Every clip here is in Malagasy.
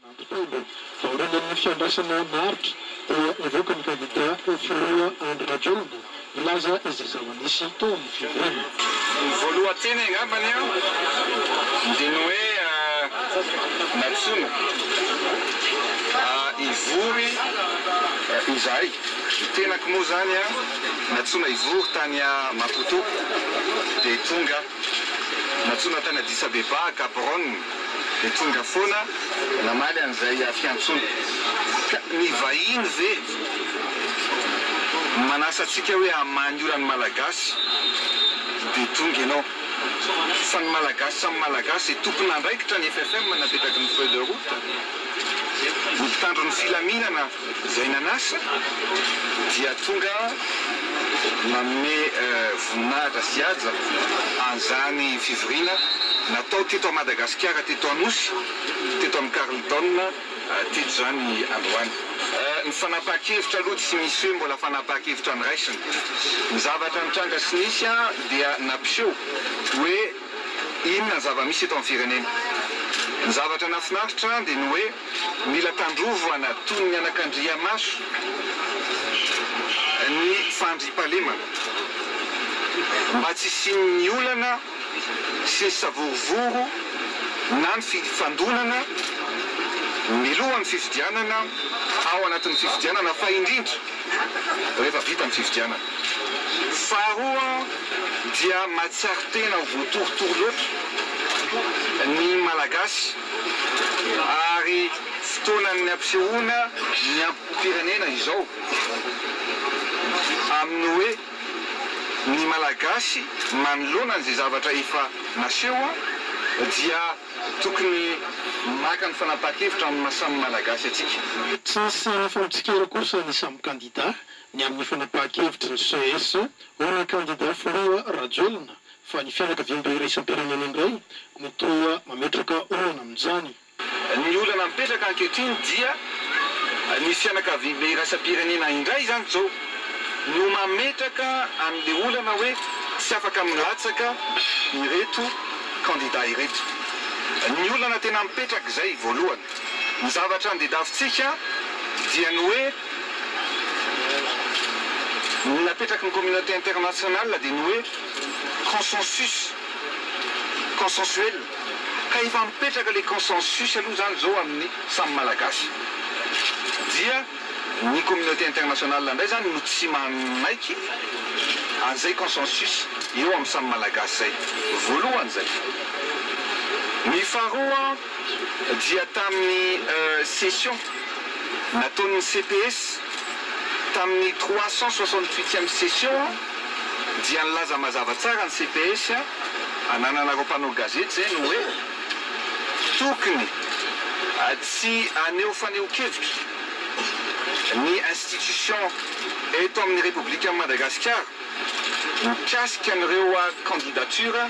Nampitombo aoriana ny fiandrasana maharitra dia nivoaka ny kandida ho filoha Andry Rajoelina milaza izy izao nisy tao amin'ny fivoahana. Ny voalohan-teny angambany dia ny hoe nantsoina hivory izahay. Ny tenako moa zany an, natsoina hivory tany Maputo dia tonga, natsoina tany Addis Abeba, Gaborone, dia tonga foana namaly an'izay fiantsoana. Ka ny vahiny ve manasa antsika hoe hamaha ny olan'ny Malagasy dia tonga ianao? Fa ny Malagasy samy Malagasy, tompon'andraikitra ny FFM napetraky ny feuille de route, ny mpitandro ny filaminana, Izay nanasa dia tonga nanome voninahitra sy haja an'izany fivoriana natao teto Madagasikara, teto Anosy, teto amin'ny Carlton teto izany androany. Ny fanapahan-kevitra aloha tsy misy hoe mbola fanapahan-kevitra noraisina. Ny zavatra nitranga sy nisy dia nampiseho hoe. Inona ny zava-misy eto amin'ny firenena? Ny zavatra nahafinaritra dia ny hoe mila tandrovana toy ny anakandriamaso ny fandriampahalemana mba tsy hisian'ny olana sy ny savorovoro na ny fifandonana milohan'ny fifidianana, ao anatin'ny fifidianana fa indrindra rehefa vita ny fifidianana. Faharoa dia mahatsiaro tena ho voatorotoro loatra ny Malagasy ary fotoanan'ny ampisehoana ny ampofirenena izao amin'ny hoe ny Malagasy manoloana an'izay zavatra efa naseho dia tokony maka ny fanapahan-kevitra amin'ny maha samy Malagasy antsika. Tsy nisy sary efa mitsikera kosa ny samy kandida Ny amin'ny fanapahan-kevitry ny ces, hoy ny kandida filoha Rajoelina fa ny fianakaviambe iraisam-pirenena indray no toa mametraka olana amin'izany. Ny olana mipetraka ankehitriny dia ny fianakaviambe iraisam-pirenena indray izany izao no mametraka an'ilay olana hoe tsy afaka milatsaka ireto kandida ireto. Ny olana tena mipetraka izay voalohany. Ny zavatra andedavintsika dia ny hoe. Ny napetraky ny communauté internationale dia ny hoe consensus, consensuel, ka efa mipetraka ilay consensus aloha izany izao amin'ny samy Malagasy, dia ny communauté internationale indray izany no tsy manaiky an'izay consensus eo amin'ny samy Malagasy izay, voalohany izay. Ny faharoa. dia tamin'ny session nataon'ny CPS tamin'ny trois cent soixante-huitième session dia nilaza mazava tsara ny CPS anananareo mpanao gazety izay ny hoe tokony tsy haneho fanehoan-kevitra ny institution eto amin'ny Repoblikan'i Madagasikara mikasika an'ireo candidature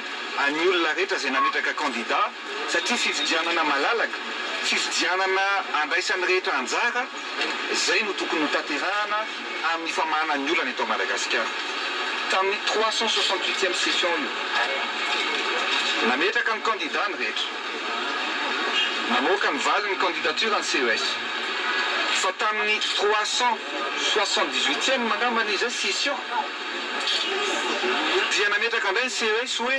an'ny olona rehetra izay nametraka candidat satria fifidianana malalaka, fifidianana andraisan'ny rehetra anjara, izay no tokony hotanterahana amin'ny famahana ny olana eto Madagasikara. Tamin'io trois cent soixante huitième session io, nametraka ny kandida ny rehetra, namoaka ny valiny ny candidature ny CES, fa tamin'ny trois cent soixante dix huitième angambany izay session dia nametraka indray ny CES hoe,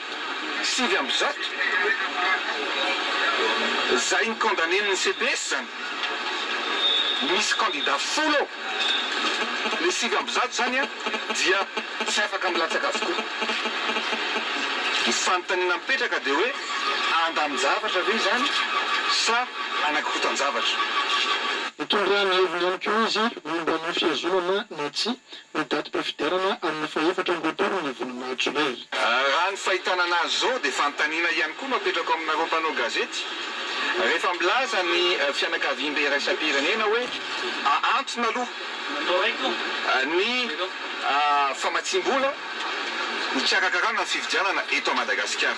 sivy amby zato zay ny condamne ny CPS zany misy candidat folo ao le sivy amby zato zany an dia tsy afaka milatsaka avokoa ny fanontaniana mipetraka dia hoe andamin-javatra ve izany sa anakorotan-javatra. Nitondra ny heviny ihany koa izy momba ny fihazonana na tsia Ny datim-pifidianana amin'ny fahefatra amby roapolo ny volana jolay. Raha ny fahitana an'azy izao dia fanontaniana ihany koa no apetrako aminareo mpanao gazety, rehefa milaza ny fianakaviambe iraisam-pirenena hoe ahantona aloha ny famatsiam-bola hikarakarana ny fifidianana eto à Madagasikara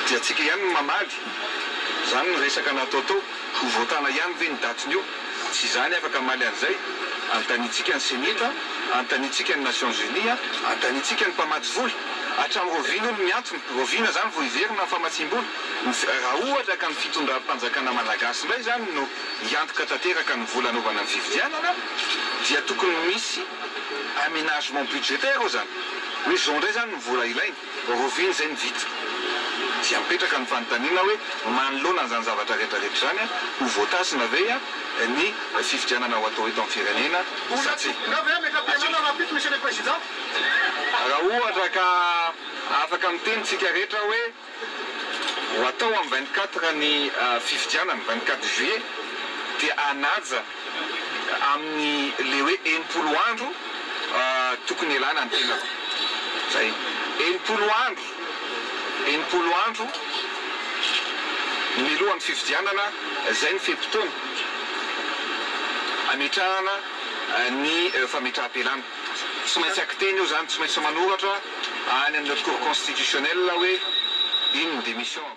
dia antsika ihany no mamaly izany ny resaka nataotao, ho voatana ihany ve ny datin'io? Tsy izany afaka hamaly an'izay. Anontaniantsika ny Senita, anontaniantsika ny Nations Unies, anontaniantsika ny mpamatsy vola. Hatramin'ny Rovina hono ny antony. Rovina izany vao hiverina ny famatsiam-bola. Raha ohatra ka ny fitondram-panjakana malagasy indray izany no hiantoka tanteraka ny vola hanaovana ny fifidianana dia tokony misy aménagement budgétaire ao izany. Hoe izao indray izany ny vola ilaina. Revue izay ny vita. Dia mipetraka ny fanontaniana hoe manoloana an'izany zavatra retraretra izany ho voatasina ve ny fifidianana ho atao eto amin'ny firenena sa tsia? Raha ohatra ka afaka miteny tsika rehetra hoe ho atao amin'ny vingt quatre ny fifidianana, vingt quatre juillet, dia hanaja amin'ny le hoe enimpolo andro tokony hialana ny tenako. Zay. Enimpolo andro, enimpolo andro mialohan'ny fifidianana, zay ny fe-potoana ametrahana ny fametraham-pialana. Tsy maintsy akiteny eo zany, tsy maintsy manoratra any amin'ny Haute Cour Constitutionnelle hoe iny ny démission-ko.